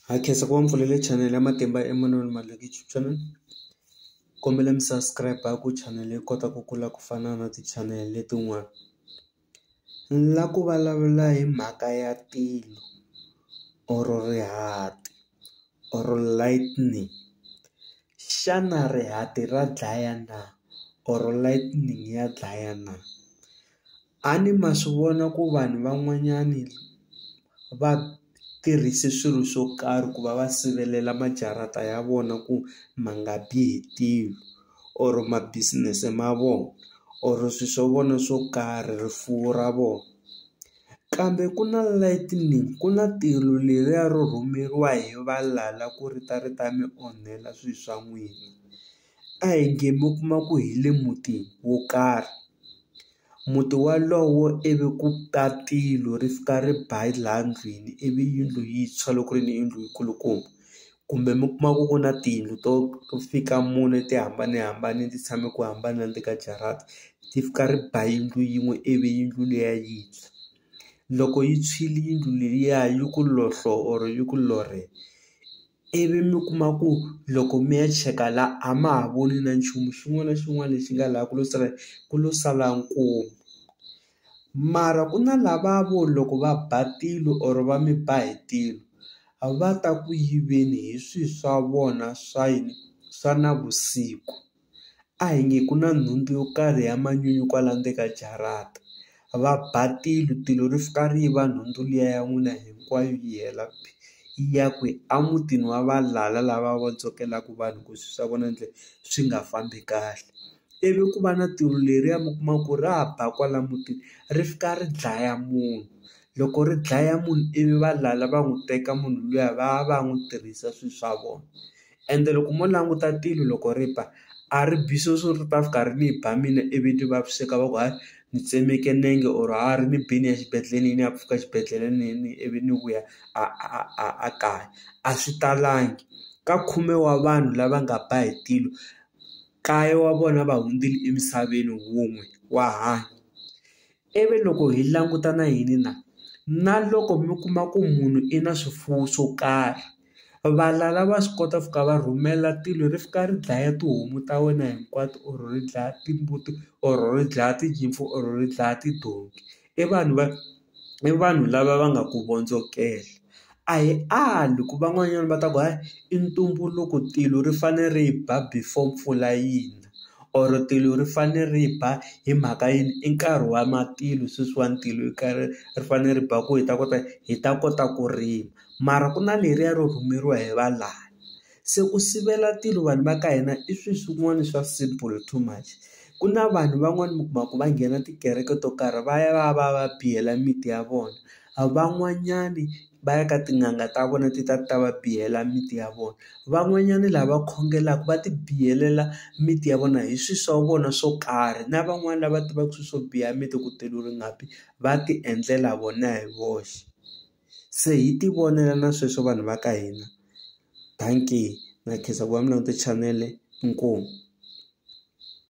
Ha khensa ku va mi pfulele chanele ya Matimba Emanuel Maluleke YouTube channel kombela mi subscribe ku chanele yi kota ku kula ku fana na ti chanele letin'wana ni la ku vulavula hi mhaka ya tilo or rihati or lightning xana rihati ra dlaya na or lightning ya dlaya na. A ni ma swi vona ku vanhu van'wanyani va tirhise swilo swo karhi ku va va sivelela majarata ya vona ku ma nga bi hi tilo or ma business ma vona or swi swa vona swo karhi rifuwo ra vona kambe ku na lightning ku na tilo leriya ro rhumeriwa hi valala ku ri ta ri ta mi onhela swi swa n'wina. a hi nge mi kuma ku hi le mutini wo karhi muti walowo ivi ku ta tilo ri fika ri ba laha ndlwini ivi yindlu yi tshwa loko ku ri ni yindlu yi kulukumba kumbe mi kuma ku ku na tiyindlu to fika mune ti hambanahambane ti tshame ku hambana le ka jarata ti fika ri ba yindlu yin'we ivi yindlu liya yi tshwa loko yi tshwile yindlu liya yi ku lohlo or yi ku lorhe. ivi mi kuma ku loko mi ya cheka la a ma ha voni na nchumu xin'wana na xin'wana lexi nga laha ku lo sala ku lo sala nkomu mara ku na lava vo loko va ba tilo or va mi ba hi tilo a va ta ku yiveni hi swi swa vona swa yini swa navusiku. A hi nge ku na nhundzu yo karhi ya manyunyu kwala ndzeni ka jarata. Va ba tilo, tilo ri fika ri yiva nhundzu liya ya n'wina hinkwayo yi hela yi ya kwi? Emutini wa valala lava vondzokelaka vanhu ku swilo swa vona njhe swi nga fambi kahle. Ivi ku va na tilo leriya mi kuma ku ra ba kwala mutini ri fika ri dlaya munhu. Loko ri dlaya munhu ivi valala va n'wi teka munhu luya va ya va ya n'wi tirhisa swilo swa vona. ende loko mo languta tilo loko ri ba a ri bi swo swo ri ta fika ri ni ba mina ivi ni vaviseka va ku hayi ni tsemeke nenge or ha ri ni bini ni ya xibedhlele ni ya pfuka xibedhlele ni ni ivi ni vuya a a a a kaya a swi talangi ka khume wa vanhu lava nga ba hi tilo kaye wa vona va hundzile emisaveni wun'we wa hanya ivi loko hi languta na yini na na loko mi kuma ku munhu i na swifuwo swo karhi. Valala va swi kota ku ka va rhumela tilo ri fika ri dlaya tihomu ta wena hinkwato or ri dlaya timbuti or ri dlaya tinyimpfu or ri dlaya tidonki i vanhu va i vanhu lava va nga ku vondzokela a hi ali ku van'wanyana va ta ku hayi i ntumbuluko tilo ri fane ri ba before mpfula yi na or tilo ri fane ri ba hi mhaka yini i nkarhi wa matilo sweswiwani tilo ri fanele ri ba ku hi ta kota hi ta kota ku rima. mara ku na leriya ro rhumeriwa hi va lani se ku sivela tilo vanhu va ka hina i swi swin'wana swa simple too much ku na vanhu van'wani mi kuma ku va nghena tikereke to karhi va ya va ya va ya va biyela miti ya vona a van'wanyani va ya ka tin'anga ta vona ti ta ti ta va biyela miti ya vona van'wanyani lava khongelaka va ti biyelela miti ya vona hi swi swa vona swo karhi na van'wani lava tivaka swi swo biya miti ku tilo ri nga bi va ti endlela vona hi voxe. se hi ti vonela na sweswo vanhu va ka hina dankie na khensa ku va mi langute chanele inkomu.